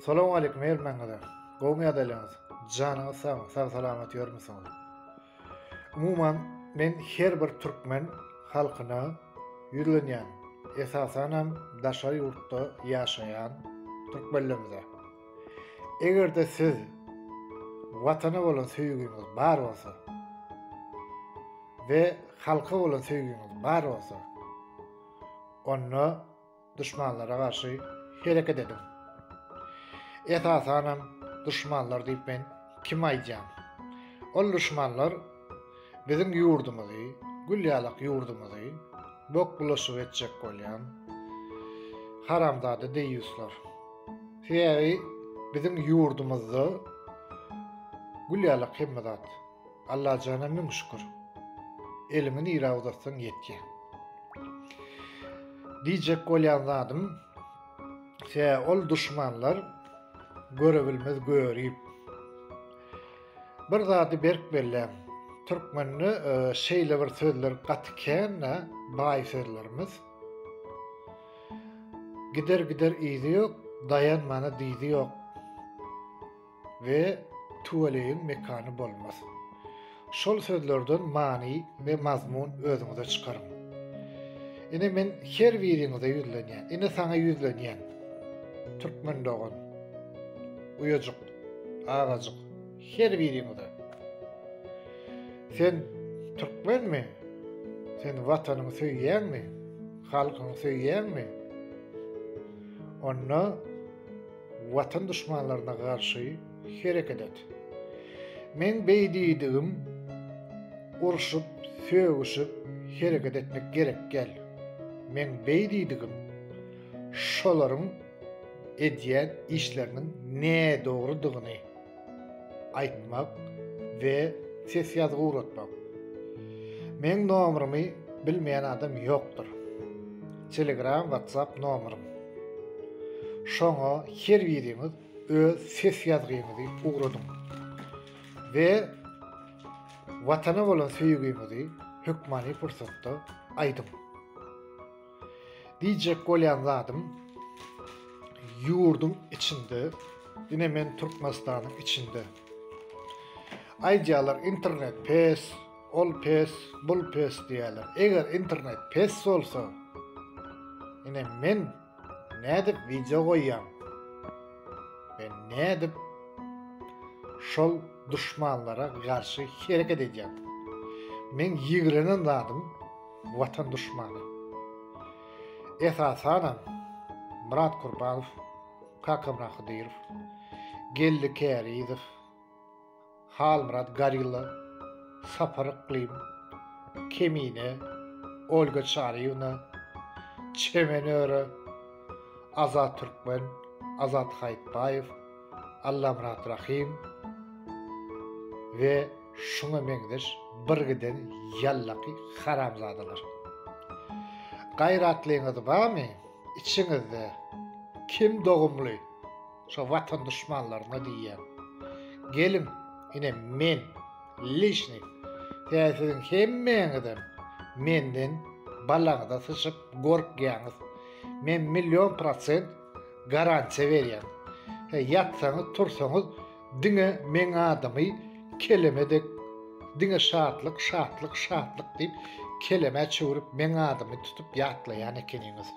Salam aleýkum Herman gaza. Gowmy ýagdaýlaryňyz? Janyňyz sagmy? Sag salamat ýörmüsiňiz? Umuman men her bir türkmen halkyna ýüzlenýän. Esasan hem daşary ýurtda ýaşaýan türkmenlerimize. Eger-de siz watana bolan söýgiňiz bar bolsa we halka bolan söýgiňiz bar bolsa, onda Duşmanlara garşy hereket ediň. Esasanam duşmanlar diýip men kimi aýdýan? Ol duşmanlar biziň ýurdumyzy, gül ýalak ýurdumyzy bok bulaşyk etjek bolýan haramzada deýýuslar. Sebäbi biziň ýurdumyzda gül ýalak hemme zat. Allajana müň şükür. Eliňi nirä uzatsaň ýetýä. Diýjek bolýan zadym se ol duşmanlar görebilmez görip. Bir zady berk belläň. Türkmende e, şeýle bir sözler gaty kän da, baý sözlerimiz. Gider gider izi yok, dayanmana dizi yok. we tüweleýiň mekany bolmaz. Şol sözlerden many we mazmun özüňize çykaryň. Ine men her biriňize ýüzlenýän. Ine saňa ýüzlenýän. Türkmen dogan. Uýajyk, agajyk, her biriňize. Sen türkmenmi? Sen watanyňy söýýäňmi? Halkyňy söýýäňmi? Onda Watan duşmanlaryna garşy hereket et. Meň beýdiýdigim urşup, sögüşip hereket etmek gerek däl. Meň beýdiýdigim şolaryň edýän işleriniň nädogrydygyny, aýtmak we ses ýazgy ugratmak. Meň nomerymy bilmeýän adam ýokdur. Telegram, WhatsApp nomerym. Şoňa her biriňiz öz ses ýazgyňyzy ugradyň. We watana bolan söýgiňizi hökmany pursatda aýdyň. Diýjek bolýan zadym ýurduň içinde ine men Türkmenistanyň içinde aýdýarlar internet pes, ol pes, bul pes diýýärler. Eger internet pes bolsa, ine men nädip wideo goýýan? Men nädip şol duşmanlara garşy hereket edýän? Men ýigrenen zadym watan duşmany. Esasanam Myrat Kurbanow, Kakamyrat Hydyrow, Geldi Kärizow, Halmyrat Garilla, Sapar Yklym, Kemine, Olga Çaryýewna, Çemen Öre, Azat Türkmen, Azat Haýytbaýew, Allamyrat Rahym we şuňa meňzeş bir giden ýallaky haramzadalar. Gaýratlyňyz barmy? Içiňizde kim dogumly? Şo watan duşmanlaryna diýýän. Geliň, ine men lişni täsiň hemmäňizem menden balaňyza syçyp gorkýaňyz. Men million prosent Garantiýa berýän. He, ýatsaňyz, tursaňyz diňe meň adymy keleme dek diňe şatlyk, şatlyk, şatlyk diýip kelemä çöwrüp meň adymy tutup ýatlaýan ekeniňiz.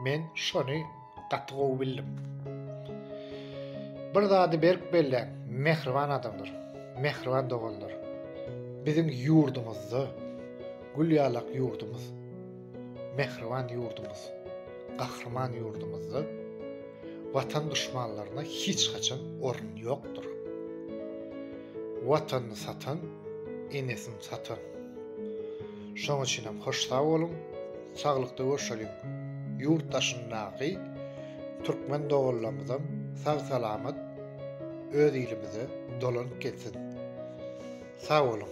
Men şony gaty gowy bildim. Bir zady berk belläň, mähriban adamlar, mähriban doganlar. Biziň ýurdumyzda, gül ýalak ýurdumyz. Mähriban ýurdumyz, gahryman ýurdumyzda Watan duşmanlaryna hiç haçan orun ýokdur. Watanyny satan, enesini satan. Şoň üçin hem hoş sag boluň, saglykda görşeliň. Ýurt daşyndaky türkmen doganlarymyzam sag-salamat öz ilimize dolanyp gelsin. Sag boluň!